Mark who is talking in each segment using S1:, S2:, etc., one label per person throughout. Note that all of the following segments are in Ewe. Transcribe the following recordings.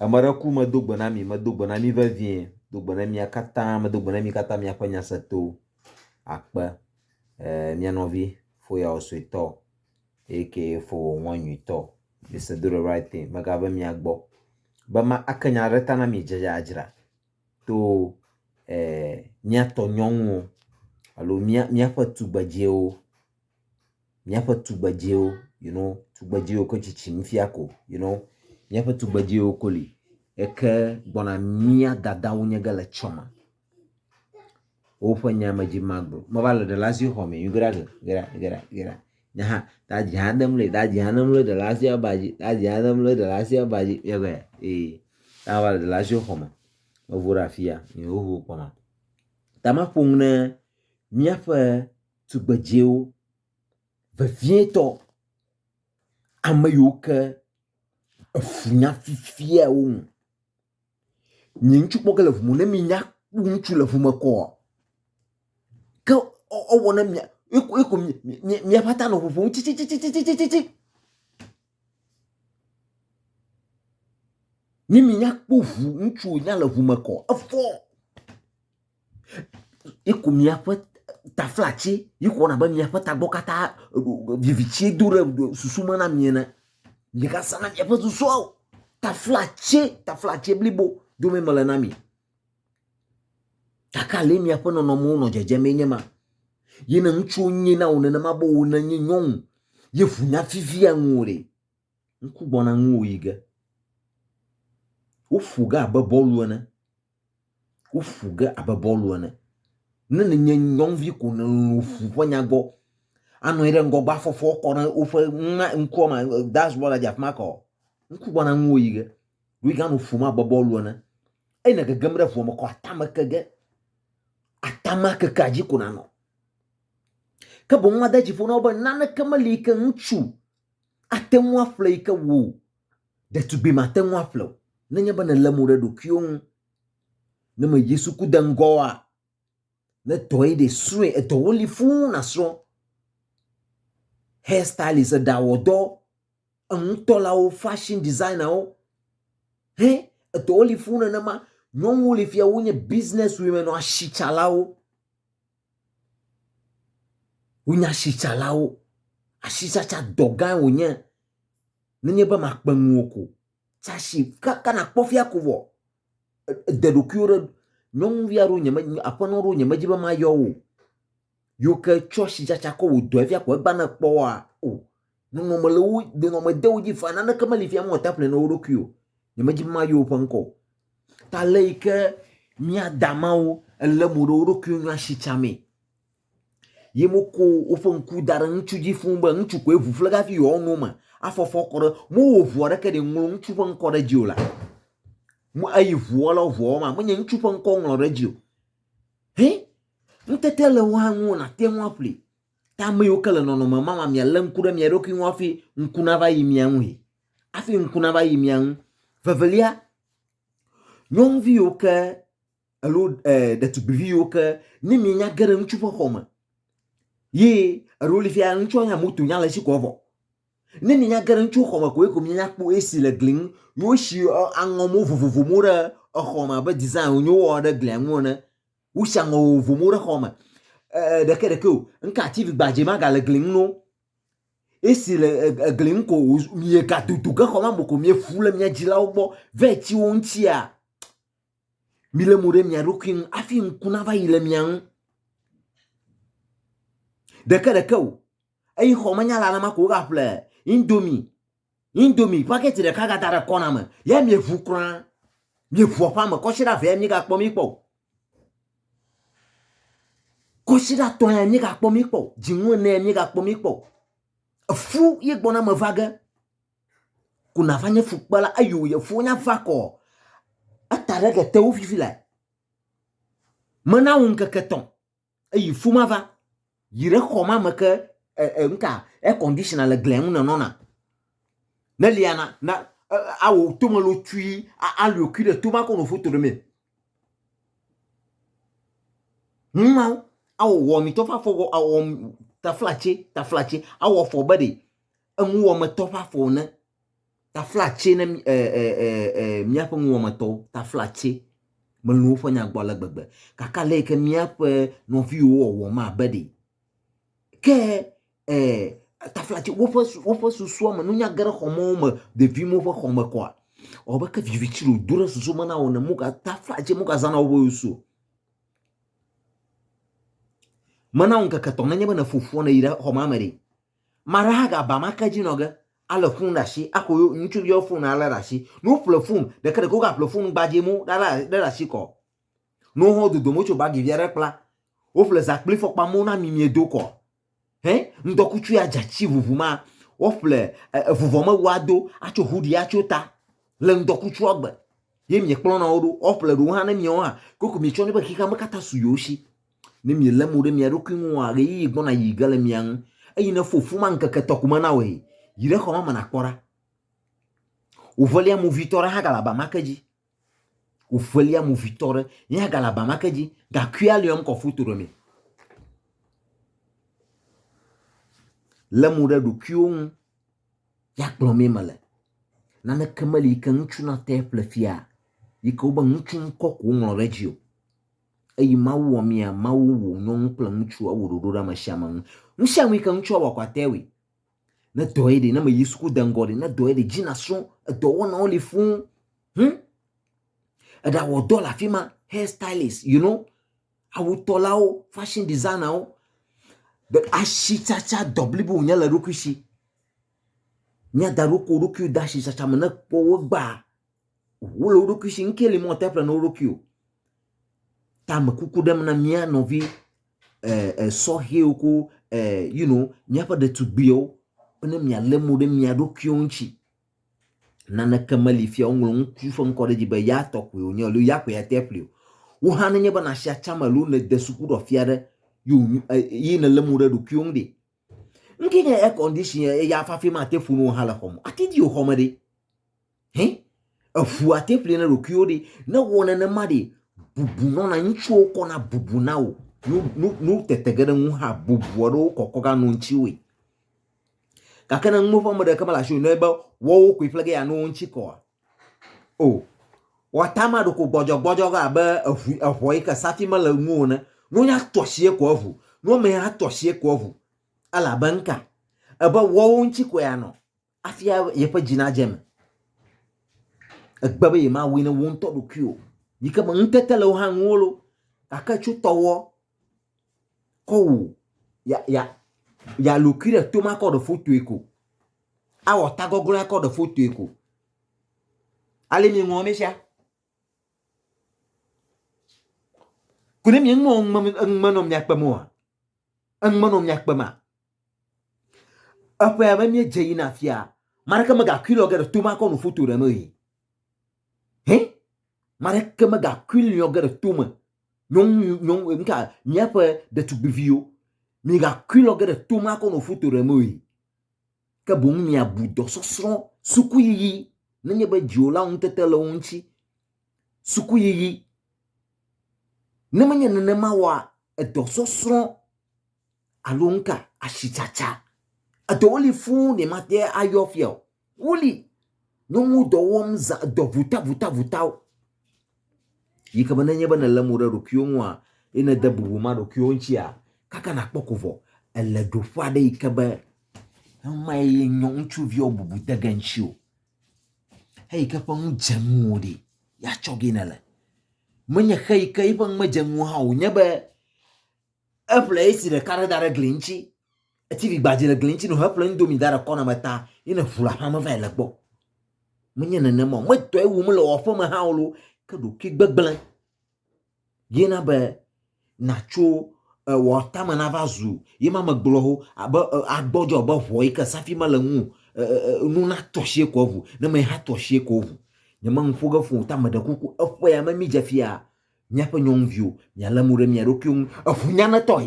S1: Ame aɖe ku medo gbe na mi, medo gbe na mi vevie, do gbe na mia katã, medo gbe na mi katã miaƒe nyaseto akpe. E mia nɔvi foyawo suetɔ aka fowo ŋɔ nyuitɔ. It's a do the right thing megave mia gbɔ be ma ake nya ɖe ta na mi dzedzadzra to e miatɔ nyɔnuwo alo mia miaƒe tugbedziwo. Míaƒe tugbedzɛwo you know tugbedzɛwo ke tsitsim fia ko you know míaƒe tugbedzɛwo ko li eke gbɔna mía dadawo nye ge le etsɔ me. Woƒe nya me dzi magblɔ meva le ɖelasi xɔ me you get that oh get that get that get that nye hã dadzi hã dem le dadzi hã dem le ɖelasi aba dzi dadzi hã dem le ɖelasi aba dzi mía gblɔe ee ne ava le ɖelasiwo xɔ me mevo ɖe afi ya mi xoxo kpɔna. Ta maƒo nu ɖe míaƒe. tugbedzɛwo vevietɔ, ame yiwo ke efunya fifia wo ŋu. Nye ŋutsu kpɔ ge le ŋu me ne minya kpɔ ŋutsu le ŋu me kɔa, ke ɔ ɔwɔ ne mia ye ko ye ko mi mi miaƒe ata nɔ ŋuŋum tsitsitsitsitsitsi. Ne minya kpɔ ŋu ŋutsu wònya le ŋu me kɔ efɔ. Yeku miaƒe taflatse, yexɔ abe miaƒe tagbɔ katã vivitse do ɖe susu me na mi ene. Migasa na miaƒe susua o. Taflatse, taflatse blibo dome mele na mi. Gake ale miaƒe nɔnɔmewo nɔ dzedzem ye nye ma. Ye ne ŋutsuwo nyae na wò nenema be wò nènye nyɔnu ye ŋu naviviaa ŋuwò ɖe, ŋku gbɔna ŋuwò yi ge. Woƒo ge abe bɔlu ene. Woƒu ge abe bɔlu ene. Ne nènye nyɔnuvi ko nèlolo ƒu ƒe nya gbɔ, anɔ anyi ɖe ŋgɔgbe afɔ fɔ kɔ ɖe woƒe ŋma ŋkua me dance bɔla dze afi ma kɔ. Ŋku gbɔna ŋuwò yi ge. Ɖo yi ke anɔ ƒum abe bɔlu ene. Eyi ne gegem ɖe ŋua me kɔ atame ke ge. Atama kekea dzi ko nanɔ. Ke boŋ made dzi ƒo na wo be naneke meli yi ke ŋutsu ate ŋu aƒle yi ke wò ɖetugbui mate ŋu aƒle o. Nenye be nèlé mo ɖe ɖokuiwò ŋu, ne me Yesu ku de ŋgɔa, ne dɔe ɖe srɔ̃e, edɔwo li fũu nàsrɔ̃. Hair stylist, eɖawɔdɔ, enutɔlawo, fashion designerwo, he edɔwo li fũu nenema. Nyɔnuwo li fia wonye business women, asitsalawo. Wo nye asitsalawo. Asitsatsa dɔ gã wonye. Nenye be makpe nu wò ko tsasi kaka nakpɔ fia ko vɔ ede ɖokuiwo ɖe. Nyɔnuvi aɖewo nye me aƒenɔ aɖewo nye me dzi be mayɔ wo o. Yiwo ke tsɔ asitsatsa kɔ wɔ dɔ fia ko egba ne ekpɔ woa o. Nɔnɔme le wo nɔnɔme de wo dzi fa naneke meli fia mewɔ taple na wo ɖokui o. Nyemedzi be mayɔ woƒe ŋkɔ o. Ta le yi ke mía da mawo elé mo ɖe wo ɖokuiwo ŋu asi tsamee ye woko woƒe ŋku da ɖe ŋutsu dzi fũu be ŋutsu koe ŋu ƒle hafi yewoawo no me afɔ fɔ kɔ ɖe mowɔ ʋu aɖeke ɖi ŋlɔ ŋutsu ƒe ŋkɔ ɖe dzi o la eye ʋua la ʋua wɔma menye ŋutsu ƒe ŋkɔ ŋlɔ ɖe dzi o he ŋutete le wo hã ŋu nàte ŋu aƒlee Ta ame yiwo ke le nɔnɔme ma ma mialé ŋku ɖe mia ɖokui ŋu hafi ŋku nava yi mia ŋui. Hafi ŋku nava yi mia ŋu. Vevelia, nyɔnuvi yiwo ke alo e, ɖetugbivi yiwo ke ne mienya ge ɖe ŋutsu ƒe xɔ me ye eɖo li fia ŋutsua nya moto nya le esi kɔ vɔ. Ne mienya ge ɖe ŋutsu xɔ me koe ko mienya kpɔ esi le gli ŋu, yewo si aŋɔ mo vovovo mo ɖe exɔ me abe design wonyo wɔ ɖe glia ŋu ene. Wosi aŋɔ vovovowo ɖe xɔa me. Ee, ɖeke ɖeke o. Ŋka TV gbadze ma gale gli ŋu no. Esi le egli ŋu ko miega dodo ge xɔ ma mo ko miefu le mia dzilawo gbɔ va etsi wo ŋutia. Mile mo ɖe mia ɖokui ŋu afi ŋku nava yi le mia ŋu. Ɖeke ɖeke o. Eyi xɔ manyala na ma ko wogaƒle indomie Indomie package ɖeka gada ɖe kɔna me ye mieʋu kura. Mieʋua ƒe ame kɔsiɖa vea miegakpɔ mi kpɔ o. Kɔsiɖa tɔ ya miegakpɔ mi kpɔ o. Dzinu ene ya miegakpɔ mi kpɔ o. Efu ye gbɔna me va ge. Ko nava nye fukpela eye wò yefuwo nya va kɔ. Eta ɖe ke te wo fifi la. Mena wò ŋkeke tɔn. Eyi fu ma va, yi ɖe xɔ ma me ke e, e, nka air conditioner le glia ŋu nenɔna. Ne lia na, na e, awɔ tome lo tui, alio kui ɖe toma ko no foto ɖe me. Numawo, awɔ wɔmitɔ ƒe afɔ, awɔ taflatse, taflatse, awɔ afɔ be ɖe eŋuwɔmetɔ ƒe afɔ ne. Taflatse ne míaƒe nuwɔmetɔwo, taflatse melɔ̃ woƒe nya gbɔ ale gbegbe. Gake ale yi ke míaƒe nɔviwo wɔwɔ mabe ɖi. Ke taflatse woƒe woƒe susua me nunya ge ɖe xɔme wo me vevie me woƒe xɔme kɔa ewɔ abe ke viviti ɖe wodo ɖe susu me na wo ene moga taflatse mogazãna woƒe ŋuse o. Mena wò ŋkeke etɔ̃ nenye be nèƒo ƒua nèyi ɖe xɔmame ɖi Mara hã ga ba ma ke dzi nɔ ge ale fun ɖa shi axo yo ŋutsu viɔ fun ale ɖa shi. No ƒle fun ɖeke ɖeke wo ga ƒle fun gbadze mo ɖa ɖa ɖe ɖa shi kɔ. No hɔn dodo mo tso bagi via ɖe kpla. Wo ƒle za kpli fɔkpa mo na mi mie do kɔ. Hɛ ŋdɔ kutsu ya dza tsi vuvu ma wo ƒle evuvɔ me wa do atso hudi atso ta le ŋdɔ kutsu agbe. Ye mie kplɔ na wo ɖo wo ƒle ɖo hã ne mie wo hã koko mi tsɔ ne be xixa me kata su yo shi. Ne mielé mo ɖe mia ɖokui ŋua, ɣeyiɣi gbɔna yi ge le mia ŋu, eye ne fofu ma ŋkeke tɔ ko me na wòe, yi ɖe xɔ ma me nàkpɔ ɖa. Wòʋelia movitɔ ɖe hã gale aba ma ke dzi. Wòʋelia movitɔ ɖe ye hã gale aba ma ke dzi, gakuia le yɔm kɔ foto ɖe mee. Lé mo ɖe ɖokuiwo ŋu ya kplɔ mee mele. Naneke meli yi ke ŋutsu nate ƒle fia yi ke wobe ŋutsu ŋkɔ ko woŋlɔ ɖe edzi o. Eyi Mawu wɔ mia, Mawu wò nyɔnu kple ŋutsu ewò ɖoɖo ɖe ame sia ame ŋu. Nu sia nu yi ke ŋutsua wɔ kɔate ewɔe. Ne dɔ ye ɖe, ne meyi suku de ŋgɔ ɖe, ne dɔ ye ɖe dzi nasrɔ̃, edɔ wɔnawo li fũu. Hm? Eɖawɔ dɔ le afi ma, hair stylist, you know, awutɔlawo, fashion designerwo. Be asitsatsa dɔ blibo wònye le ɖokui si. Mía da ɖo ko ɖokuiwo de asitsatsa me ne kpɔ wo gbaa. Ʋu le wo ɖokui si, ŋkee li mɔ teƒle ne wo ɖokui o. Ta me kuku ɖem na mía nɔvi eh, eh, sɔhɛwo ko eh, you know, míaƒe ɖetugbuiwo be ne mialé mo ɖe mia ɖokuiwo ŋuti. Naneke meli fia woŋlɔ ŋutsu ƒe ŋkɔ ɖe dzi be ya tɔ koe wònye alo ya koe ate ƒli o. Wò hã nenye be nàsi atsã me alo nède sukuɖɔfia ɖe ye wònyo- eh, ye nèlé mo ɖe ɖokuiwo ŋu ɖe, Ŋke nye air condition eya fafi ma te ƒunu hã le xɔ me. Ate di xɔ me ɖe. Hɛ? Eƒu ate ƒli ne ɖokuiwo ɖe. Ne wɔ nenema ɖe bubu nɔna ŋutsuwo kɔna bubu na wò. Nu nu nu tete ge ɖe ŋu hã bubu aɖewo kɔkɔ ga no ŋutsiwoe. Gake ne nuwo ƒe ame ɖeke mele asi o ne be wɔwo koe ƒle ge ya no wo ŋutsi kɔa O. Wɔta ma ɖoko gbɔdzɔgbɔdzɔ ge abe eŋu eŋɔ yi ke sati mele eŋu o ne. Nunya tɔ sie ko eŋu. Nuame hã tɔ sie ko eŋu. Elabe ŋka? Ebe wɔwo ŋuti koe anɔ afi yeƒe dzi nadze eme. Egbe be yemawui ne wo ŋutɔ ɖokui o. Yi ke me ŋutete le wo hã ŋuwo lo gake tso tɔwɔ kɔ wu ya ya ya lokui ɖe to makɔ ɖe fotoe ko. Awɔ tagɔglɔ̃ akɔ ɖe fotoe ko. Ale mieŋlɔ nu sia. Ko ne mieŋlɔ enume nɔ mia kpem oa, enume nɔ mia kpema. Eƒea me míedze yina afia, ame aɖeke megakui lɔ ge ɖe tome akɔ nu foto ɖem o yi. Hɛ? Ame aɖeke megakui lɔ ge ɖe tome. Nyɔnu, nyɔnu, nuka, míaƒe ɖetugbiviwo, migakui lɔ ge ɖe tome akɔ nu foto ɖem o yi. ke boŋ miabu dɔsɔsrɔ̃ sukuyiyi nenye be dziwòla ŋutete le wo ŋuti. Sukuyiyi. Ne menye nenema oa, edɔsɔsrɔ̃ alo nuka asitsatsa. Eɖewo li fũu ɖe mate ayɔ fia o. Woli. Nyɔnu dɔ wɔm zã dɔ votavotavotao. Yi ke be ne nye be nèlé mo ɖe ɖokuiwò ŋua, ye nède bubu ma ɖokuiwò ŋutia, kaka nàkpɔ ko vɔ. Èle ɖoƒe aɖe yi ke be ema ye nyɔ ŋutsuviwo bubu de ge ŋutiwò. Eyi ke ƒe nu dze ŋuwò ɖi ya tsɔ ge nèle. Menye xe yi ke eƒe nu medze ŋuwò hã o wònye be Eƒle esi ɖeka ɖe da ɖe gli ŋuti. Eti vi gbadze le gli ŋuti no heƒle indomie da ɖe kɔna me ta yi ne ʋu le aƒea me va yi le gbɔ. Menye nenema o. Medɔe wum le wɔƒe me hã o lo ke ɖokui gbegblẽ ye na be natso wɔtame na va zu ye ma megblɔ ho abe agbɔdzɔ be ʋɔ yi ke safi mele ŋu nu na tɔsie ko ʋu ne me ha tɔsie ko ʋu. Nye me ŋu ƒo ge fo ta me ɖe kuku eƒe ya me mi dze fia. Míaƒe nyɔnuviwo, mialé mo ɖe mia ɖokuiwo ŋu eŋunyanetɔe,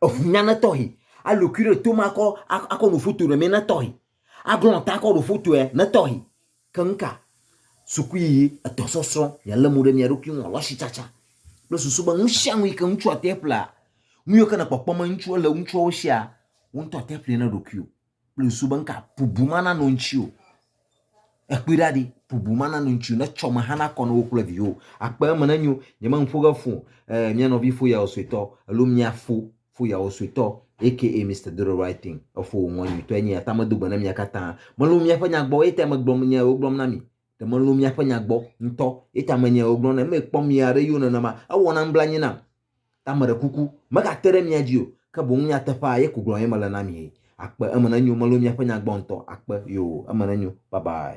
S1: eŋunyanetɔe, alũ kui ɖe tome akɔ, akɔ nu foto ɖe mɛ netɔe, aglɔ̃ ta akɔ ɖo fotoe netɔe. Ke nu ka? Sukuyiyi, edɔsɔsrɔ̃, mialé mo ɖe mia ɖokui ŋu alɔ asitsatsa kple susu be nu sia nu yi ke ŋutsu ate ƒlea, nu yiwo ke nèkpɔkpɔ me ŋutsu ele ŋutsuawo sia, wò ŋutɔ ate ƒlee na ɖokuiwò. kple su be nka bubu mana no ŋtsi o. Ekpui ɖa ɖi bubu mana no ŋtsi o ne tsɔ me hã na kɔ no wo kple viwo. Akpe eme ne nyo nye me ŋfo ge fo eh mia nɔvi fo ya wo suetɔ alo mia fo fo ya wo suetɔ aka Mister Do the right thing efo wo ŋɔ nyuitɔ enye ya ta me do gbe ne mia kata me lo mia ƒe nya gbɔ eye ta me gblɔ nya ya wo gblɔm na mi ɖe me lo mia ƒe nya gbɔ ŋtɔ eye ta me nya ya wo gblɔm na mi me kpɔ mia ɖe yo nenema ewɔ na nublanyi nam Ta meɖe kuku, megate ɖe mia dzi o, ke boŋ nyateƒea ye ko gblɔm ye mele na mi. Akpe, eme nenyo, melo miaƒe nya gbɔ ŋutɔ. Akpe, yoo, eme nenyo. Bye bye.